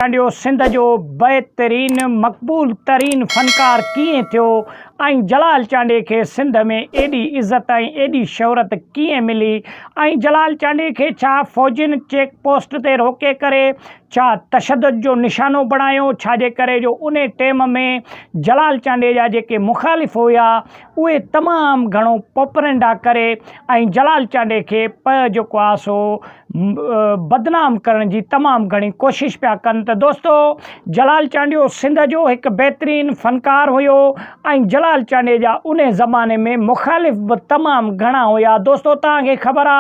ٽنڊيو سنڌ جو بهترين مقبول ترين فنڪار ڪيئن ٿيو ۽ جلال چانڊيي کي سنڌ ۾ ايڏي عزت ۽ ايڏي شهرت ڪيئن ملي ۽ جلال چانڊيي کي ڇا فوجين چيڪ پوسٽ تي روڪي ڪري ڇا تشدد جو نشانو بڻايو ڇاجي ڪري جو انهي ٽيم ۾ جلال چانڊيي جا جيڪي مخالف هيا اهي تمام گهڻو پوپرنڊا ڪري ۽ جلال چانڊئي کي پ جيڪو آ سو بدنام ڪرڻ جي تمام گهڻي ڪوشش پيا ڪن ته دوستو جلال چانڊيو سنڌ جو هڪ بهترين فنڪار هيو ۽ جلال چانڊئي جا انهي زماني ۾ مخالف به تمام گهڻا هيا دوستو توهان کي خبر آ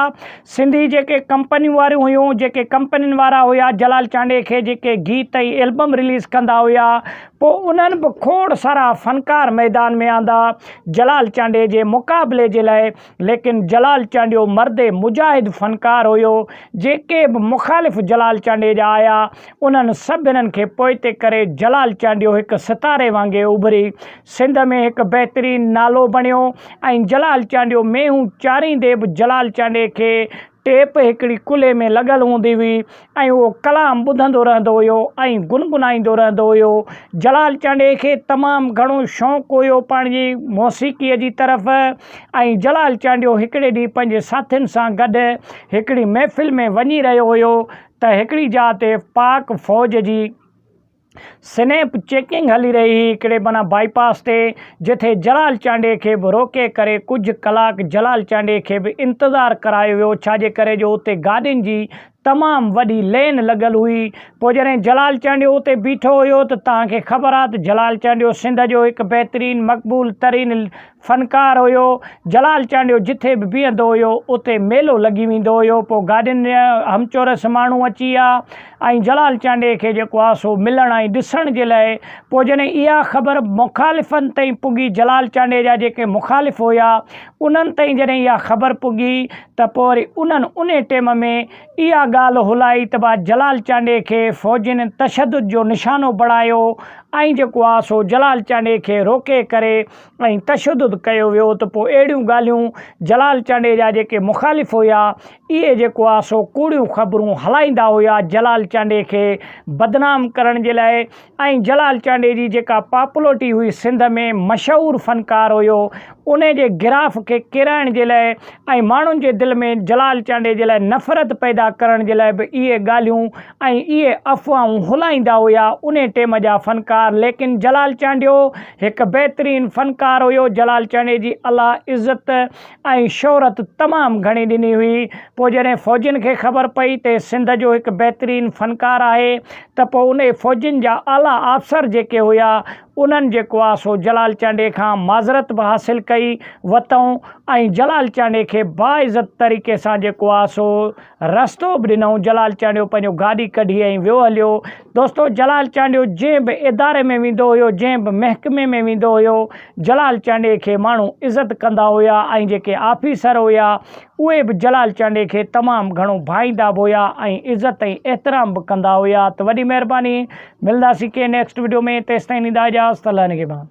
سنڌي جيڪي ڪمپنيون واريون هيون جيڪي ڪمپنين وارا هيا جلال چانڊئي کي جيڪي گيت ۽ البم رليز ڪندا هيا پوء انهن به کوڙ سارا فنڪار ميدان ۾ آندا جلال چانڊيي جي مقابلي جي لاء، ليڪن جلال چانڊيو مرد مجاهد فنڪار هيو، جيڪي به مخالف جلال چانڊيي جا آيا، انهن سڀنن کي پوئتي ڪري جلال چانڊيو هڪ ستاري وانگي اڀري، سنڌ ۾ هڪ بهترين نالو بڻيو ۽ جلال چانڊيو مينهون چاريندي به جلال چانڊيي کي ٽيپ هڪڙي ڪلهي ۾ لڳل هوندي هئي ۽ اهو ڪلام ٻڌندو رهندو هيو ۽ گنگنائيندو رهندو هيو. جلال چانڊيي کي تمام گهڻو شوق هيو پنهنجي موسيقيء جي طرف ۽ جلال چانڊيو هڪڙي ڏينهن پنهنجي ساٿين سان گڏ هڪڙي محفل ۾ وڃي رهيو هيو ته هڪڙي جاء تي پاڪ فوج جي سنيپ چيڪنگ هلي رهي هئي هڪڙي بنا بائي پاس تي جتي جلال چانڊيي کي به روڪي ڪري ڪجهه ڪلاڪ جلال چانڊيي کي به انتظار ڪرايو ويو ڇاجي ڪري جو اتي گاڏين جي تمام وڏي لين لڳل هئي پوء جڏهن جلال چانڊيو اتي بيٺو هيو ته توهان کي خبر آ ته جلال چانڊيو سنڌ جو هڪ بهترين مقبول ترين فنڪار هيو. جلال چانڊيو جٿي به بيهندو هيو، اتي ميلو لڳي ويندو هيو. پوء گاڏين جا همچورس ماڻهو اچي ها ۽ جلال چانڊيي کي جيڪو ها سو ملڻ ۽ ڏسڻ جي لاء. پوء جڏهن اها خبر مخالفن تائين پڳي، جلال چانڊيي جا جيڪي مخالف هيا، انهن تائين جڏهن اها خبر پڳي ته پوء وري انهن انهي ٽيم ۾ اها ڳالهه هلائي ته ڀا جلال چانڊيي کي فوجين تشدد جو نشانو بڻايو ۽ جيڪو ها سو جلال چانڊيي کي روڪي ڪري ۽ تشدد ڪيو ويو ته پوء اهڙيون ڳالهيون جلال چانڊيي جا جيڪي مخالف هيا اهي جيڪو آ سو ڪوڙيون خبرون هلائيندا هيا جلال چانڊيي کي بدنام ڪرڻ جي لاء ۽ جلال چانڊيي جي جيڪا پاپولرٽي هئي سنڌ ۾ مشهور فنڪار هيو ان جي گراف کي ڪيرائڻ جي لاء ۽ ماڻهن جي دل ۾ جلال چانڊيي جي لاء نفرت پيدا ڪرڻ جي لاء به اهي ڳالهيون ۽ اهي افواهون هلائيندا هيا انهي ٽيم جا فنڪار ليڪن جلال چانڊيو هڪ بهترين فنڪار هيو جلال چانڊي جي الله عزت ۽ شهرت تمام گهڻي ڏني هئي پوء جڏهن فوجين کي خبر پئي ته سنڌ جو هڪ بهترين فنڪار آهي ته پوء انهي فوجين جا اعليٰ آفسر جيڪي هيا انهن جيڪو آ سو جلال چانڊي کان معذرت به حاصل ڪئي وتئون ۽ جلال چانڊي کي باعزت طريقي سان جيڪو آ سو رستو به ڏنائون. جلال چانڊيو پنهنجو گاڏي ڪڍي ۽ ويو هليو. دوستو جلال چانڊيو جنهن به اداري ۾ ويندو هيو، جنهن به محڪمي ۾ ويندو هيو، جلال چانڊيي کي ماڻهو عزت ڪندا هيا ۽ جيڪي آفيسر هيا اهي به جلال چانڊيي کي تمام گهڻو ڀائيندا به هيا ۽ عزت ۽ احترام به ڪندا هيا ته وڏي مهرباني ملنداسين ڪنهن نيڪسٽ وڊيو ۾ تيستائين ڏيندا اجازت الله نگهبان.